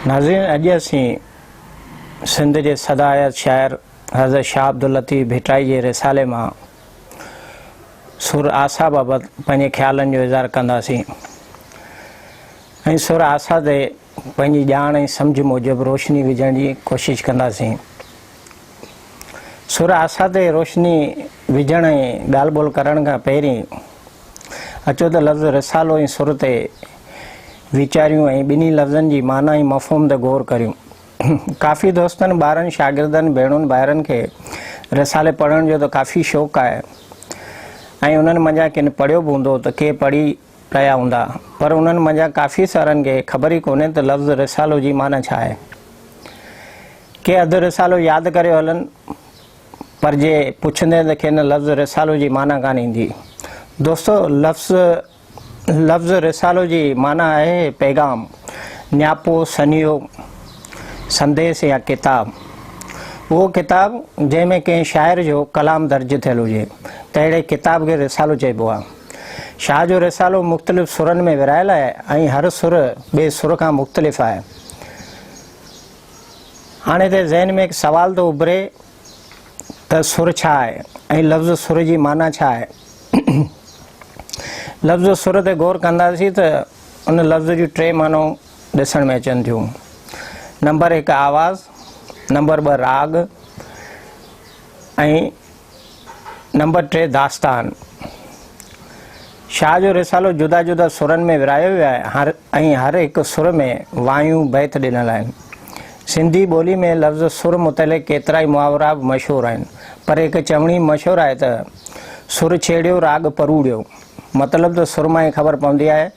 ناظرين اڄ اسين سنڌ جي سدايت شاعر حضرت شاهه عبداللطيف ڀٽائي جي رسالي مان سر آسا بابت پنهنجي خيالن جو اظهار ڪنداسين ۽ سر آسا تي پنهنجي ڄاڻ ۽ سمجهه موجب روشني وجهڻ جي ڪوشش ڪنداسين. سر آسا تي روشني وجهڻ ۽ ڳالهه ٻولهه ڪرڻ کان پهرين اچو ته لفظ رسالو ۽ سر تي ويچاريون ۽ ٻنهي لفظن جي معنيٰ ۽ مفهوم تي غور ڪريون. ڪافي دوستن، ٻارن، شاگردن، ڀيڻون ڀائرن کي رسالي پڙهڻ جو ته ڪافي شوق آهي ۽ انهن منجهان ڪن پڙهيو به هوندو ته ڪي پڙهي ڪيا هوندا پر انهن منجهان ڪافي سارن کي خبر ئي ڪونهي ته لفظ رسالو جي معنيٰ ڇا آهي. ڪي اڌ رسالو ياد ڪريو هلن پر جي پڇندين ته کين لفظ رسالو جي معنيٰ ڪانه ايندي. دوستو لفظ لفظ رسالو جي معنيٰ آهي پيغام، نياپو، سنيهو، سنديس يا ڪتاب. اهو ڪتاب جنهن ۾ ڪنهن شاعر جو ڪلام درج ٿيل هجي تهڙي ڪتاب کي رسالو چئبو آهي. شاهه جو رسالو مختلف سرن ۾ ورهايل آهي ۽ هر سر ٻئي سر کان مختلف آهي. هاڻي هتي ذهن ۾ هڪ سوال ٿو اڀري ته سر ڇا آهي ۽ لفظ سر جي معنيٰ ڇا آهي؟ لفظ سر تي غور ڪنداسين ته ان لفظ جون ٽي معنيون ڏسڻ ۾ اچن ٿيون. نمبر هڪ آواز، نمبر ٻه راڳ ۽ نمبر ٽي داستان شاهه جو رسالو جدا جدا سرن ۾ ورهايو ويو آهي هر ۽ هر هڪ سر ۾ وايون بيت ڏنل آهن. سنڌي ٻولي ۾ لفظ سر متعلق ڪيترائي محاورا به مشهور آهن پر هڪ چوڻي مشهور آهي ته، سر ڇيڙيو راڳ پروڙيو. مطلب ته سر مان ئي خبر پوندي آهي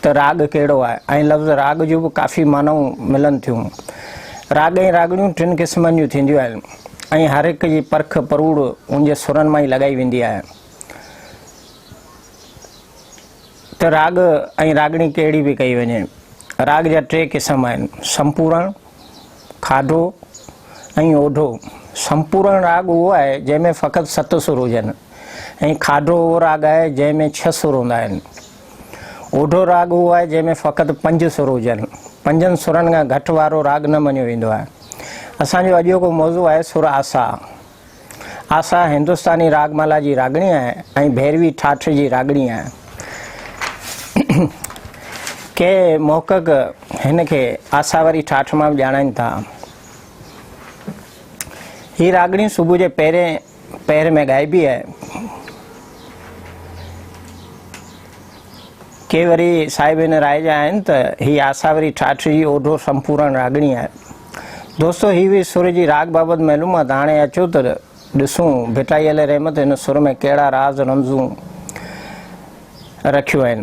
ته راڳ ڪهڙو آهي ۽ لفظ راڳ جون به ڪافي معنائون ملن ٿيون. راڳ ۽ راڳڻيون ٽن قسمن جون ٿينديون آهن ۽ هر هڪ جي پرک پروڙ ان جي سرن مان ئي لڳائي ويندي آهي ته راڳ ۽ راڳڻي ڪهڙي به ڪئي وڃي. راڳ جا ٽي قسم آهن، سمپورڻ، کاڌو ۽ اوڍو، سمپورڻ راڳ اهو آهي جنهن ۾ فقط ست سر هجن ۽ کاڌو اهو راڳ آهي جنهن ۾ ڇهه سر هوندا آهن. اوڍو راڳ اهو آهي جنهن ۾ فقط پنج سر هجن. پنجن سرن کان گهٽ وارو راڳ نه مڃيو ويندو آهي. اسان جو اڄوڪو موضوع آهي سر آسا. آسا هندستاني راڳ مالا جي راڳڻي آهي ۽ ڀيروي ٺاٺ جي راڳڻي آهي. ڪي محقق هن کي آسا واري ٺاٺ مان به ڄاڻائين ٿا. هي راڳڻي صبح جي پهرين پهر ۾ ڳائبي آهي. ڪي وري صاحب هن راء جا آهن ته هي آسا واري ٺاٺ جي اوڍو سمپورڻ راڳڻي آهي. دوستو هي هئي سر جي راڳ بابت معلومات هاڻي اچو ته ڏسون ڀٽائي عليه رحمت هن سر ۾ ڪهڙا راز رمزون رکيون آهن.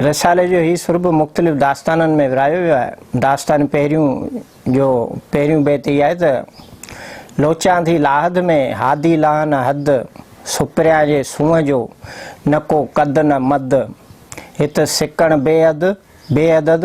رسالي جو هي سر به مختلف داستانن ۾ ورايو ويو آهي. داستان پهريون جو پهريون بيت هي آهي ته، لوچان ٿي لاهد ۾ هادي لاه نه حد، سپريان جي سونهن جو نه ڪو قد نه مد، هت سڪڻ بي حد بي عدد،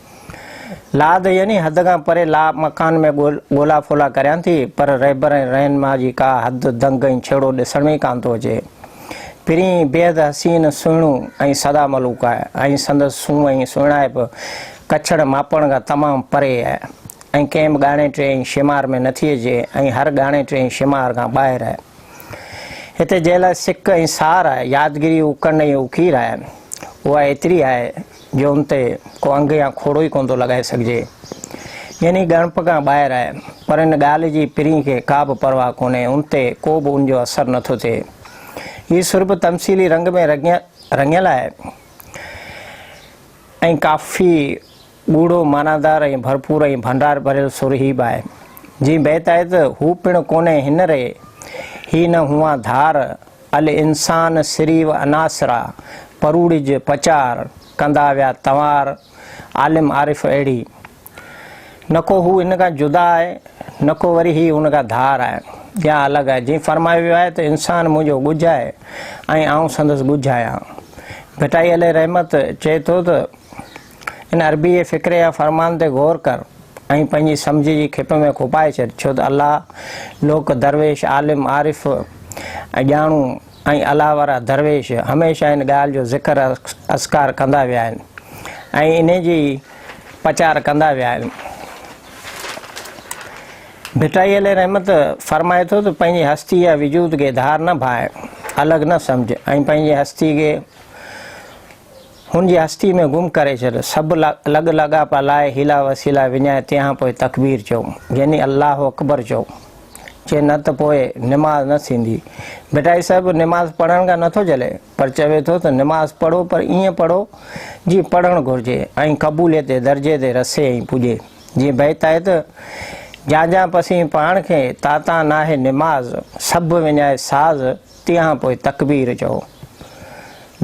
لاڏ يعني حد کان پري لا مڪان ۾ ڳولا ڦولا ڪريان ٿي پر رهبر ۽ رهنما جي ڪا حد دنگ ۽ ڇيڙو ڏسڻ ۾ ئي ڪانه ٿو اچي. پرينء بيحد حسين، سهڻو ۽ سادا ملوڪ آهي ۽ سندس سونهن ۽ سهڻائپ ڪڇڙ ماپڻ کان تمام پري آهي ۽ ڪنهن به ڳاڻي ٽي ۽ شمار ۾ نٿي اچي ۽ هر ڳاڻي ٽي ۽ شمار کان ٻاهر آهي. هتي جنهن لاء سڪ ۽ سار آهي، يادگيري اوڪنڊ ۽ اوکير آهي، اها ايتري آهي جو ان تي ڪو انگ يا کوڙو ئي ڪونه ٿو لڳائي سگهجي. يعني ڳڻپ کان ٻاهر آهي. پر ان ڳالهه جي پرينء کي ڪا به پرواهه ڪونهي، ان تي ڪو به ان جو اثر نه ٿو ٿئي. هي سر به تمثيلي رنگ ۾ رڱيل آهي ۽ ڪافي ڳوڙهو، معنيدار ۽ ڀرپور ۽ ڀنڊار ڀريل سر هي به آهي. جيئن بيت آهي ته، هو پڻ ڪونهي هن ري، هي نه هونهان ڌار. الانسان سري و عناصرا، پروڙج پچار، ڪندا ويا تنوار، عالم عارف اهڙي. نه ڪو هو هن کان جدا آهي، نه ڪو وري هي هن کان ڌار آهي يا الڳ آهي، جيئن فرمايو ويو آهي ته انسان منهنجو ڳجهه آهي ۽ آئون سندس ڳجهه آهيان. ڀٽائي عليه رحمت چئي ٿو ته. ان عربيء جي فڪري يا فرمان تي غور ڪر ۽ پنهنجي سمجهه جي کيپ ۾ کوپائي ڇڏ، ڇو ته الله، لوڪ، درويش، عالم، عارف ۽ ڄاڻو ۽ الله وارا درويش هميشه ان ڳالهه جو ذڪر اذڪار ڪندا ويا آهن ۽ ان جي پچار ڪندا ويا آهن. ڀٽائي عليه رحمت فرمائي ٿو ته پنهنجي هستي يا وجود کي ڌار نه ڀانء، الڳ نه سمجهه ۽ پنهنجي هستي کي. هن جي هستي ۾ گم ڪري ڇڏ. سڀ لڳ لاڳاپا لاء حيلا وسيلا وڃائي تنهان پوء تڪبير چئو، يعني الله اڪبر چئو. جي نه ته پوء نماز نه ٿيندي. ڀٽائي صاحب نماز پڙهڻ کان نٿو جهلي، پر چوي ٿو ته نماز پڙهو پر ائين پڙهو جيئن پڙهڻ گهرجي ۽ قبوليت جي درجي تي رسي ۽ پڄي. جيئن بيت آهي ته، جان جان پسين پاڻ کي، تان تان ناهي نماز، سڀ وڃائي ساز، تنهن پوء تڪبير چئو.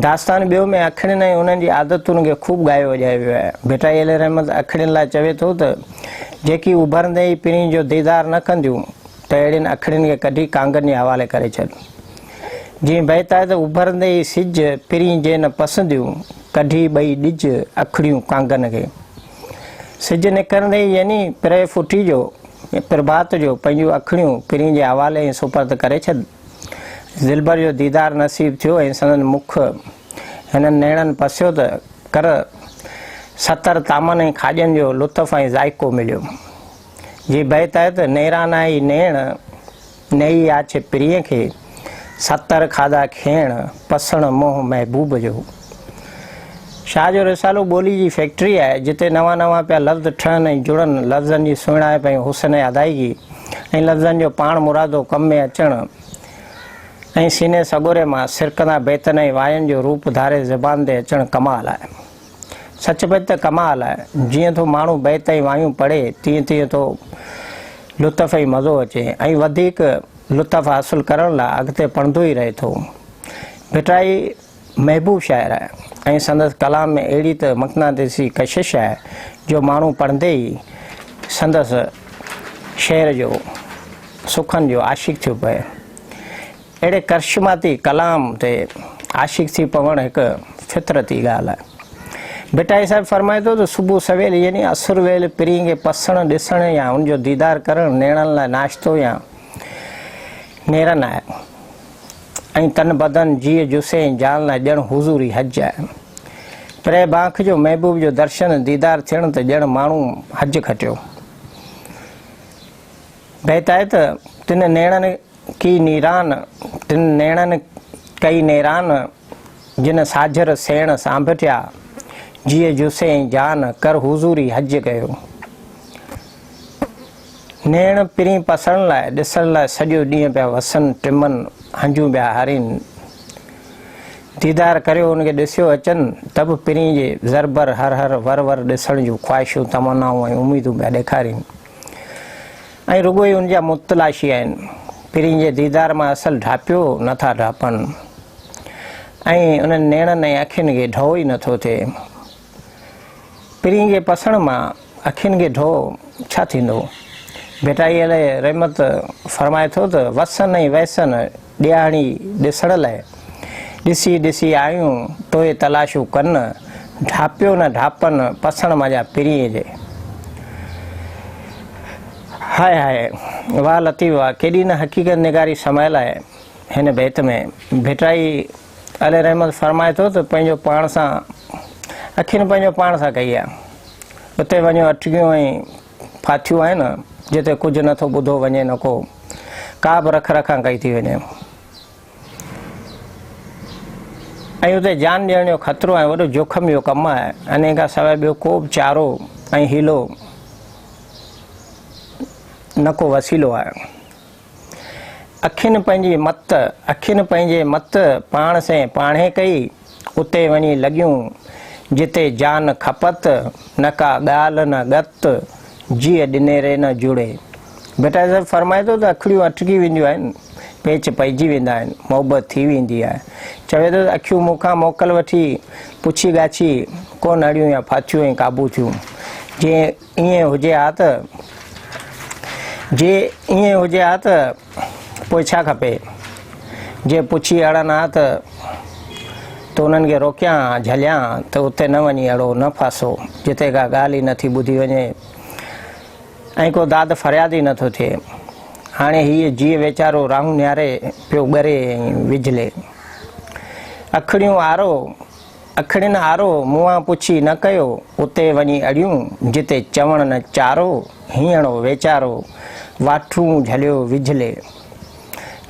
داستان ٻيو ۾ اکڙين ۽ انهن جي عادتن کي خوب ڳايو وڄايو ويو آهي. ڀٽائي علي رحمت اکڙين لاء چوي ٿو ته، جيڪي اڀرندي ئي پرين جو ديدار نه ڪنديون ته اهڙين اکڙين کي ڪڍي ڪانگن جي حوالي ڪري ڇڏ. جيئن بيت آهي ته، اڀرندي ئي سج، پرين جي نه پسنديون، ڪڍي ٻئي ڏج، اکڙيون ڪانگن کي. سج نڪرندي ئي يعني پرهه ڦٽي جو پرڀات جو پنهنجون اکڙيون پرين جي حوالي ۽ سپرد ڪري ڇڏ. دلبر جو ديدار نصيب ٿيو ۽ سندن مک هنن نيڻن پسيو ته ڪر ستر طعمن ۽ کاڄن جو لطف ۽ ذائقو مليو. جي بيت آهي ته نيران آهي نيڻ. نئي آڇ پرينء کي، ستر کاڌا کيڻ، پسڻ منهن محبوب جو. شاهه جو رسالو ٻولي جي فيڪٽري آهي، جتي نوان نوان پيا لفظ ٺهن ۽ جڙن، لفظن جي سهڻائپ ۽ حسن ادائيگي ۽ لفظن جو پاڻ مرادو ڪم ۾ اچڻ ۽ سيني سڳوري مان سرڪندا بيتن ۽ واين جو روپ ڌاري زبان تي اچڻ ڪمال آهي. سچ پچ ته ڪمال آهي. جيئن ٿو ماڻهو بيت ۽ وايون پڙهي تيئن تيئن ٿو لطف ۽ مزو اچي ۽ وڌيڪ لطف حاصل ڪرڻ لاء اڳتي پڙهندو ئي رهي ٿو. ڀٽائي محبوب شاعر آهي ۽ سندس ڪلام ۾ اهڙي ته مقناطيسي ڪشش آهي جو ماڻهو پڙهندي ئي سندس شعر جو، سخن جو عاشق ٿيو پوي. اهڙي ڪرشماتي ڪلام تي عاشق ٿي پوڻ هڪ فطرتي ڳالهه آهي. ڀٽائي صاحب فرمائي ٿو ته صبح سويل يعني عصر ويل پرينء کي پسڻ، ڏسڻ يا ان جو ديدار ڪرڻ نيڻن لاء ناشتو يا نيرن آهي ۽ تن بدن، جيء جثي ۽ جان لاء ڄڻ حضوري حج آهي. پرينء باک جو محبوب جو درشن، ديدار ٿيڻ ته ڄڻ ماڻهو حج کٽيو. بيت آهي ته تن نيڻن. ڪي نيران، تن نيڻن ڪئي نيران، جن ساجھر سيڻ سانڀٽيا، جيء جوسين جان، ڪر حضوري حج ڪيو. نيڻ پرين پسڻ لاء، ڏسڻ لاء سڄو ڏينهن پيا وسن، ٽمن، هنجون پيا هارين. ديدار ڪريو ان کي ڏسيو اچن، ته به پرين جي زربر، هر هر، ور ور ڏسڻ جون خواهشون، تمنائون ۽ اميدون پيا ڏيکارين. ۽ رڳو ئي ان جا متلاشي آهن، پرين جي ديدار مان اصل ڍاپيو نه ٿا ڍاپن، ۽ انهن نيڻن ۽ اکين کي ڍؤ ئي نه ٿو ٿئي. پرين جي پسڻ مان اکين کي ڍؤ ڇا ٿيندو؟ ڀٽائي عليه رحمت فرمائي ٿو ته وسن ۽ ويسن ڏيهاڻي ڏسڻ لئه، ڏسي ڏسي آيون توهي تلاشون ڪن، ڍاپيو نه ڍاپن پسڻ مانجا پرينء جي. هاء هاء، واهه لطيف واهه، ڪيڏي نه حقيقت نگاري سمايل آهي هن بيت ۾. ڀٽائي عليه رحمت فرمائي ٿو ته پنهنجو پاڻ سان اکين پنهنجو پاڻ سان ڪئي آ، اتي وڃو اٽڪيون ۽ ڦاٿيون آهن جتي ڪجهه نه ٿو ٻڌو وڃي نه ڪو ڪا به رک رکان ڪئي ٿي وڃي ۽ اتي جان ڏيڻ جو خطرو ۽ وڏو جوکم جو ڪم آهي انهي کان سواء ٻيو ڪو به چارو ۽ حيلو نه ڪو وسيلو آهي اکين پنهنجي مت، اکين پنهنجي مت پاڻ سين پاڻهي ڪئي، اتي وڃي لڳيون، جتي جان کپت، نه ڪا ڳالهه نه ڳت، جيء ڏنيري نه جڙي. ڀٽائي صاحب فرمائي ٿو ته اکڙيون اٽڪي وينديون آهن، پيچ پئجي ويندا آهن، محبت ٿي ويندي آهي. چوي ٿو ته اکيون مون کان موڪل وٺي، پڇي ڳاڇي، ڪو نڙيون يا ڦاٿيون ۽ قابو ٿيون، جيئن. ائين هجي ها ته؟ جي ائين هجي ها ته پوء ڇا کپي؟ جي پڇي اڙن ها ته تو انهن کي روڪيان ها، جهليان ها ته اتي نه وڃي اڙو، نه ڦاسو، جتي ڪا ڳالهه ئي نه ٿي ٻڌي وڃي ۽ ڪو داد فرياد ئي نه ٿو ٿئي. هاڻي هيء جيء ويچارو راهون نهاري پيو ڳري ۽ وجهلي. اکڙيون آرو اکڙين آرو، مونئان پڇي نه ڪيو، اتي وڃي اڙيون، جتي چوڻ نه چارو، هينئڙو ويچارو، واٺون جهليو وجهلي.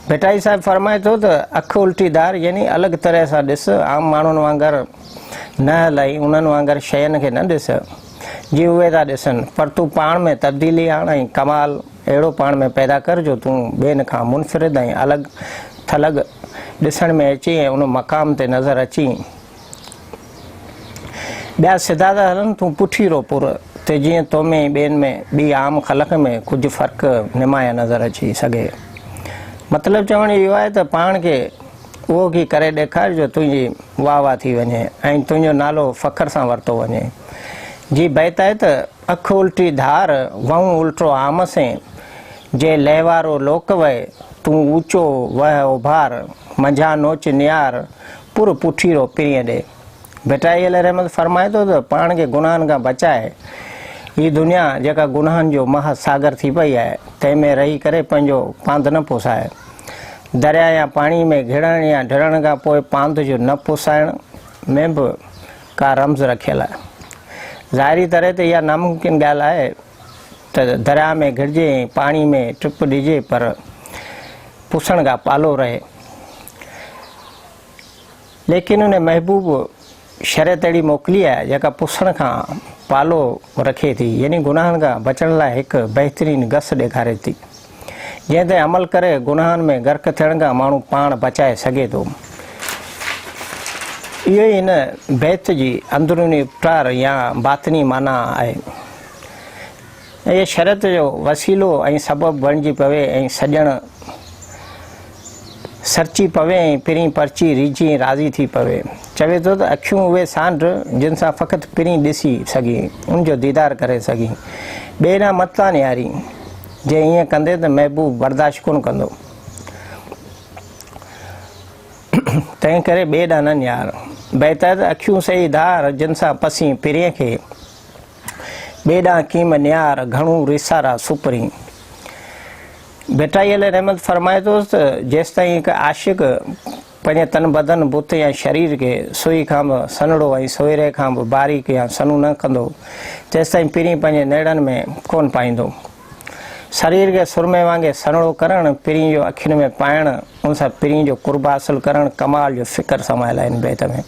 ڀٽائي صاحب فرمائي ٿو ته، اک الٽي ڌار يعني الڳ طرح سان ڏس، عام ماڻهن وانگر نه هلائين، انهن وانگر شين کي نه ڏس. جي اهي ٿا ڏسن، پر تون پاڻ ۾ تبديلي آڻ ۽ ڪمال اهڙو پاڻ ۾ پيدا ڪر جو تون ٻين کان منفرد ۽ الڳ ٿلڳ ڏسڻ ۾ اچين ۽ ان مقام تي نظر اچين. ٻيا سڌا ٿا هلن، تون پٺي رو پر ته جيئن تو ۾ ۽ ٻين ۾ ٻي عام خلق ۾ ڪجهه فرق نمايان نظر اچي سگهي. مطلب چوڻ اهو آهي ته پاڻ کي اهو ڪي ڪري ڏيکار جو تنهنجي. واهه واهه ٿي وڃي ۽ تنهنجو نالو فخر سان ورتو وڃي. جي بيت آهي ته، اک الٽي ڌار، وهون الٽو عام سين، جي لهوارو لوڪ وهي، تون اوچو وهه اوڀار، منجهان نوچ نيار، پر پٺي رو پرينء ڏي. ڀٽائي عليه رحمت فرمائي ٿو ته، پاڻ کي گناهن کان بچائي، هي دنيا جيڪا گناهن جو مها ساگر ٿي پئي آهي، تنهن ۾ رهي ڪري پنهنجو پانڌ نه پوسائي. درياء يا پاڻي ۾ گهڙڻ يا ڊڙڻ کان پوء پانڌ جو نه پسائڻ ۾ به ڪا رمز رکيل آهي. ظاهري طرح ته اها ناممڪن ڳالهه آهي ته درياء ۾ گهڙجي ۽ پاڻي ۾ ٽپ ڏجي پر پسڻ کان پالو رهي. ليڪن ان محبوب شريعت اهڙي موڪلي آهي جيڪا پسڻ کان پالو رکي ٿي يعني گناهن کان بچڻ لاء هڪ بهترين گس ڏيکاري ٿي جنهن تي عمل ڪري گناهن ۾ غرق ٿيڻ کان ماڻهو پاڻ بچائي سگهي ٿو اهو ئي هن بيت جي اندروني اپٽار يا باطني معنيٰ آهي اهي شرط جو وسيلو ۽ سبب بڻجي پوي ۽ سڄڻ سرچي پوي ۽ پرين پرچي ريجهي ۽ راضي ٿي پوي. چوي ٿو ته اکيون اهي سانڍ جن سان فقط پرين ڏسي سگهين، ان جو ديدار ڪري سگهين. ٻئي ڏانهن مت ٿا نهارين. جي ائين ڪندين ته محبوب برداشت ڪونه ڪندو. تنهن ڪري ٻئي ڏانهن نه نهار. بيت آهي ته اکيون سهي ڌار جن سان پسين پرين کي. ٻئي ڏانهن ڪيم نيار گهڻو ريسارا سپرين ڀٽائي عليه رحمت فرمائي ٿو ته جيستائين هڪ عاشق پنهنجي تن بدن بت يا شرير کي سوئي کان به سنهڙو ۽ سوئري کان به باريڪ يا سنهون نه ڪندو تيستائين پرين پنهنجي نيڙن ۾ ڪونه پائيندو شرير کي سرمي وانگي سنهڙو ڪرڻ پرين جو اکين ۾ پائڻ ان سان پرين جو قرب حاصل ڪرڻ ڪمال جو فڪر سمايل آهي ان بيت ۾.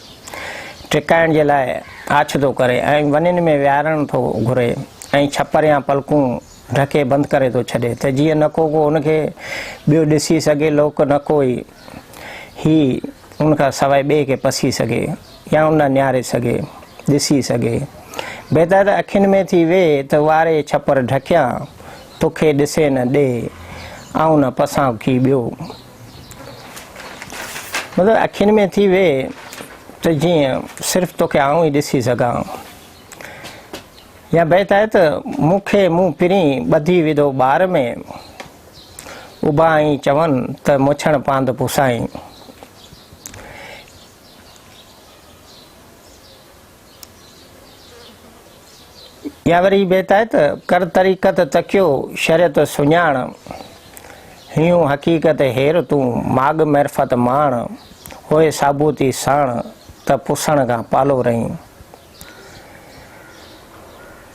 ٽڪائڻ جي لاء آڇ ٿو ڪري ۽ ونين ۾ ويهارڻ ٿو گهري ۽ ڇپر يا پلڪون ڍڪي بند ڪري ٿو ڇڏي ته جيئن نه ڪو ڪو ان کي ٻيو ڏسي سگهي لوڪ نه ڪو ئي هي ان کان سواء ٻئي کي پسي سگهي يا ان ڏانهن نهاري سگهي ڏسي سگهي بهتر ته اکين ۾ ٿي ويهه ته واري ڇپر ڍڪيان توکي ڏسي نه ڏي آئون نه پسان ڪي ٻيو مگر اکين ۾ ٿي ويهه ته جيئن صرف توکي آئون ئي ڏسي سگهان. يا بيت آهي ته مون کي مون پرين ٻڌي وڌو ٻار ۾، اڀا آئين چون ته مڇڻ پاند پوسائين. يا وري بيت آهي ته ڪر طريقت تڪيو شريعت سڃاڻ هيون حقيقت هير تون ماڳ معرفت ماڻ هوء ثابوتي ساڻ ته پسڻ کان پالو رهين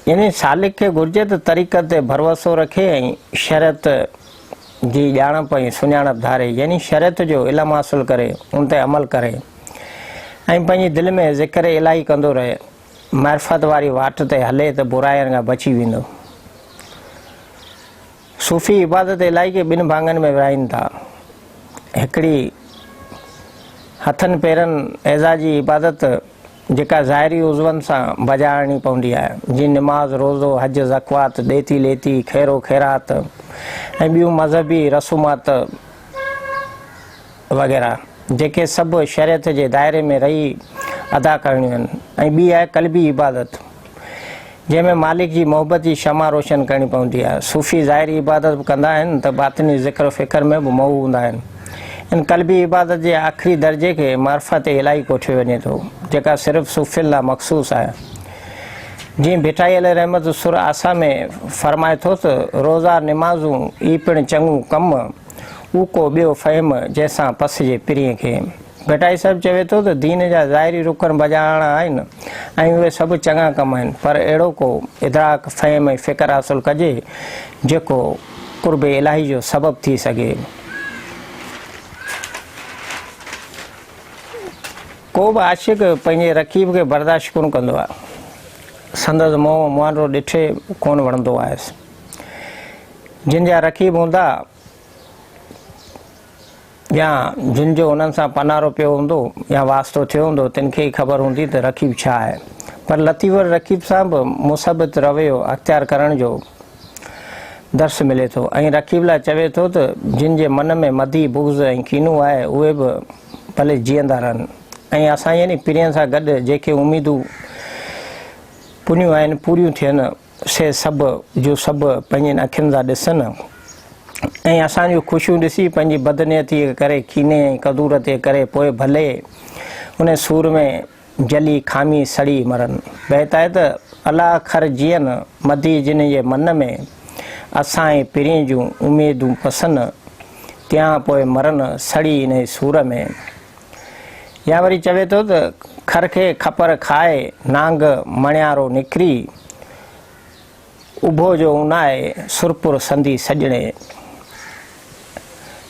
يعني سالڪ کي گهرجي ته طريقت تي ڀروسو رکي ۽ شريعت جي ڄاڻپ ۽ سڃاڻپ ڌاري يعني شريعت جو علم حاصل ڪري ان تي عمل ڪري ۽ پنهنجي دل ۾ ذڪر الاهي ڪندو رهي معرفت واري واٽ تي هلي ته براين کان بچي ويندو. صوفي عبادت الاهي کي ٻن ڀاڱن ۾ ورهائين ٿا. هڪڙي هٿن پيرن اعضا جي عبادت جيڪا ظاهري عضون سان بجا آڻڻي پوندي آهي، جيئن نماز، روزو، حج، زڪوات، ڏيتي ليتي، خيرو خيرات ۽ ٻيون مذهبي رسومات وغيره، جيڪي سڀ شريعت جي دائري ۾ رهي ادا ڪرڻيون آهن ۽ ٻي آهي قلبي عبادت، جنهن ۾ مالڪ جي محبت جي شمع روشن ڪرڻي پوندي آهي. صوفي ظاهري عبادت به ڪندا آهن ته باطني ذڪر فڪر ۾ به مئو هوندا آهن. ان قلبي عبادت جي آخري درجي کي معرفت الٰهي ڪوٺيو وڃي ٿو، جيڪا صرف صوفين لاء مخصوص آهي. جيئن ڀٽائي عليه رحمت سر آسا ۾ فرمائي ٿو ته، روزا نمازون، اي پڻ چڱو ڪم، او ڪو ٻيو فهم، جنهن سان پسجي پرينء کي. ڀٽائي صاحب چوي ٿو ته دين جا ظاهري رڪن بجاڻا آهن ۽ اهي سڀ چڱا ڪم آهن پر اهڙو ڪو ادراڪ، فهم ۽ فڪر حاصل ڪجي جيڪو قرب الاهي جو سبب ٿي سگهي. ڪو به عاشق پنهنجي رقيب کي برداشت ڪونه ڪندو آهي. سندس منهن مهانڊو ڏٺي ڪونه وڻندو آهيس. جن جا رقيب هوندا. يا جن جو انهن سان پنارو پيو هوندو يا واسطو ٿيو هوندو تن کي ئي خبر هوندي ته رقيب ڇا آهي. پر لطيف وٽ رقيب سان به مثبت رويو اختيار ڪرڻ جو درس ملي ٿو ۽ رقيب لاء چوي ٿو ته جن جي من ۾ مدي، بغض ۽ ڪينو آهي اهي به ڀلي جيئندا رهن ۽ اسان يعني پرين سان گڏ جيڪي اميدون پنيون آهن پوريون ٿين. سي سڀ جو سڀ پنهنجين اکين سان ڏسن ۽ اسان جون خوشيون ڏسي پنهنجي بدنيتيء ڪري، ڪيني ۽ ڪدورت جي ڪري پوء ڀلي ان سور ۾ جلي، کامي، سڙي مرن. بيت آهي ته، الا خر جيئن مدي جنهن جي من ۾، اسان ۽ پرين جون اميدون پسن، تيئان پوء مرن، سڙي انهيء سور ۾. يا وري چوي ٿو ته کر کي کپر کائي نانگ مڻيارو نکري اڀو جو اونائي سرپور سندي سڄڻي.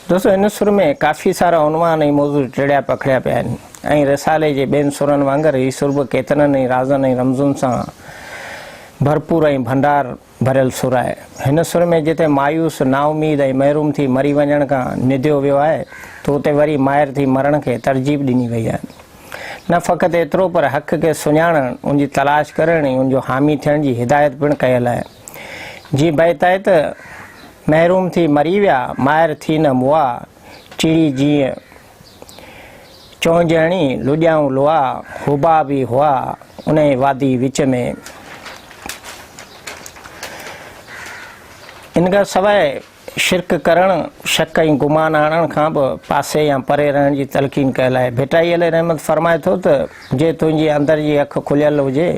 دوستو هن سر ۾ ڪافي سارا عنوان ۽ موضوع ٽڙيا پکڙيا پيا آهن ۽ رسالي جي ٻين سرن وانگر هي سر به ڪيترن ئي رازن ۽ رمزن سان ڀرپور ۽ ڀنڊار ڀريل سر آهي. هن سر ۾ جتي مايوس، نااميد ۽ محروم ٿي مري وڃڻ کان نديو ويو آهي ته اتي وري مائر ٿي مرڻ کي ترجيب ڏني وئي آهي. نه فقط ايترو پر حق کي سڃاڻڻ، ان جي تلاش ڪرڻ ۽ ان جو حامي ٿيڻ جي هدايت پڻ ڪيل آهي. جي بيت آهي ته، محروم ٿي مري ويا، مائر ٿي نه مئا، چڙي جيئن چون جهڻي لڏيائون لوها هوبا به هئا انهي وادي وچ ۾ ان کان سواء شرڪ ڪرڻ شڪ ۽ گمان آڻڻ کان به پاسي يا پري رهڻ جي تلقين ڪيل آهي ڀٽائي علي رحمت فرمائي ٿو ته جي تنهنجي اندر جي اک کليل هجي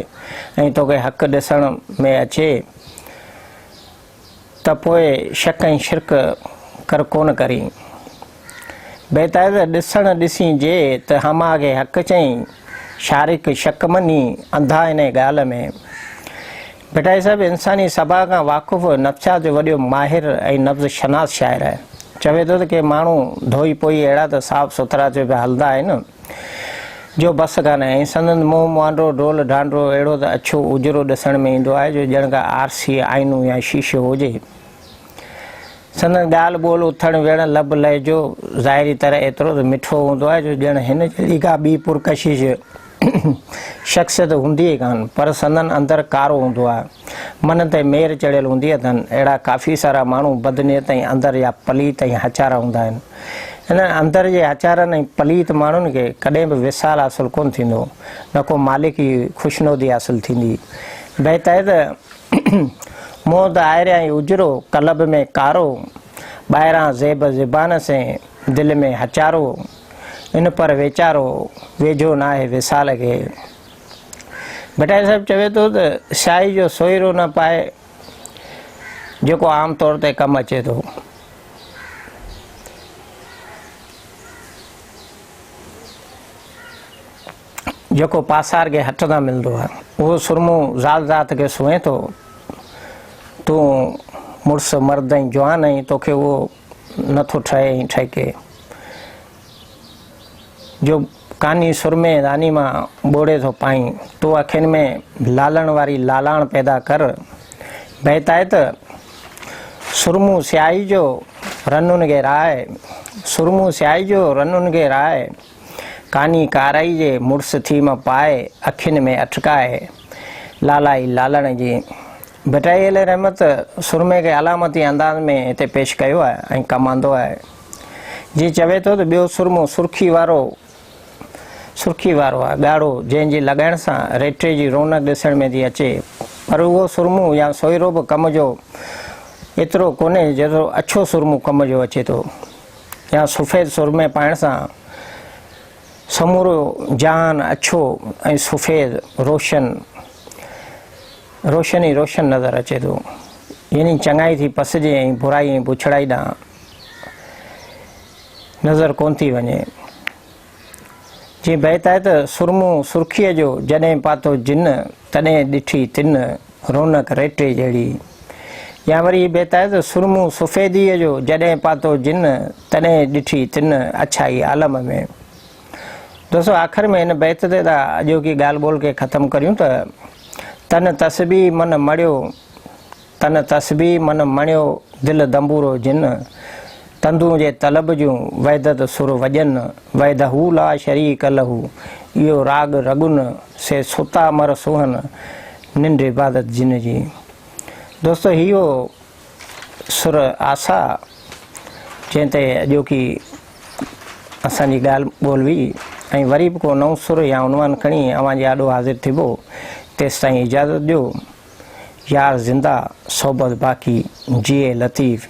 ۽ توکي حق ڏسڻ ۾ اچي ته پوء شڪ ۽ شرڪ ڪر ڪونه ڪرين. بيتائيز ڏسڻ ڏسين جي ته حما کي حق چئين، شارق شڪ مڃي، انڌا انهيء ڳالهه ۾. ڀٽائي صاحب انساني سڀاء کان واقف، نفسيات جو وڏيو ماهر ۽ نبض شناس شاعر آهي. چوي ٿو ته ڪي ماڻهو ڌوئي پوئي اهڙا ته صاف سٿرا ٿيو پيا هلندا آهن. جو بس ڪانه ۽ سندن منهن مانڊو ڊول ڍانڍرو اهڙو ته اڇو اجرو ڏسڻ ۾ ايندو آهي جو ڄڻ ڪا آرسي، آئينو يا شيشو هجي. سندن ڳالهه ٻولهه، اٿڻ ويهڻ، لب لهجو ظاهري طرح ايترو ته مٺو هوندو آهي جو ڄڻ هن جهڙي ڪا ٻي پرڪشش شخصيت هوندي ئي ڪانه پر سندن اندر ڪارو هوندو آهي. منهن تي مير چڙهيل هوندي اٿن. اهڙا ڪافي سارا ماڻهو بدنيت ۽ اندر جا پليت ۽ هچارا هوندا آهن. انهن اندر جي هچارن ۽ پليت ماڻهن کي ڪڏهن به وصال حاصل ڪونه ٿيندو، نه ڪو مالڪ جي خوشنودي حاصل ٿيندي. بيت آهي ته، مون ته آئريان ئي اجرو، قلب ۾ ڪارو، ٻاهران زيب زبان سين، دل ۾ هچارو، ان پر ويچارو، ويجهو ناهي وصال کي. ڀٽائي صاحب چوي ٿو ته، سياهي جو سوئرو نه پائي، جيڪو عام طور تي ڪم اچي ٿو. جيڪو پاسار کي هٿ تان ملندو آهي. اهو سرمو زال ذات کي سونهين ٿو. تون مڙس مرد ۽ جوان آهين، توکي اهو نه ٿو ٺهي ۽ ٺهڪي. جو ڪاني سرمي راني مان ٻوڙي ٿو پائين، تون اکين ۾ لالڻ واري لالاڻ پيدا ڪر. بيت آهي ته، سرمون سياهي جو رنون گي راء، سرمون سياهي جو رنون گي راء، ڪاني ڪارائي جي مڙس ٿي م پاء، اکين ۾ اٺڪاء، لالائي لالڻ جي. ڀٽائي عليه رحمت سرمي کي علامتي انداز ۾ هتي پيش ڪيو آهي ۽ ڪم آندو آهي. جيئن چوي ٿو ته ٻيو سرمو سرخي وارو سرخي وارو آهي ڳاڙهو جنهن جي لڳائڻ سان ريٽي جي رونق ڏسڻ ۾ ٿي اچي پر اهو سرمو يا سوئرو به ڪم جو ايترو ڪونهي جيترو اڇو سرمو ڪم جو اچي ٿو يا سفيد سرمي پائڻ سان سمورو جهان اڇو ۽ سفيد روشن روشن ئي روشن نظر اچي ٿو يعني چڱائي ٿي پسجي ۽ برائي ۽ بڇڙائي ڏانهن نظر ڪون ٿي وڃي. جيئن بيت آهي ته سرمو سرخيء جو جڏهن پاتو جن، تڏهن ڏٺي تن، رونق ريٽي جهڙي. يا وري هي بيت آهي ته سرمو سفيديء جو جڏهن پاتو جن، تڏهن ڏٺي تن، اڇائي عالم ۾. دوستو آخر ۾ هن بيت تي ٿا اڄوڪي ڳالهه ٻولهه کي ختم ڪريون ته، تن تسبيح من مڙيو، تن تسبيح من مڻيو دل دنبورو جن تندون جي طلب جون وحدت سر وڄن وحده لا شريڪ له اهو راڳ رڳن سي ستا مر سونهن ننڊ عبادت جن جي دوستو هي هو سر آسا جنهن تي اڄوڪي اسان جي ڳالهه ٻولهه هئي ۽ وري به ڪو نئون سر يا عنوان کڻي اوهان جي آڏو حاضر ٿبو تيستائين اجازت ڏيو يار زنده صحبت باقي جيئي لطيف.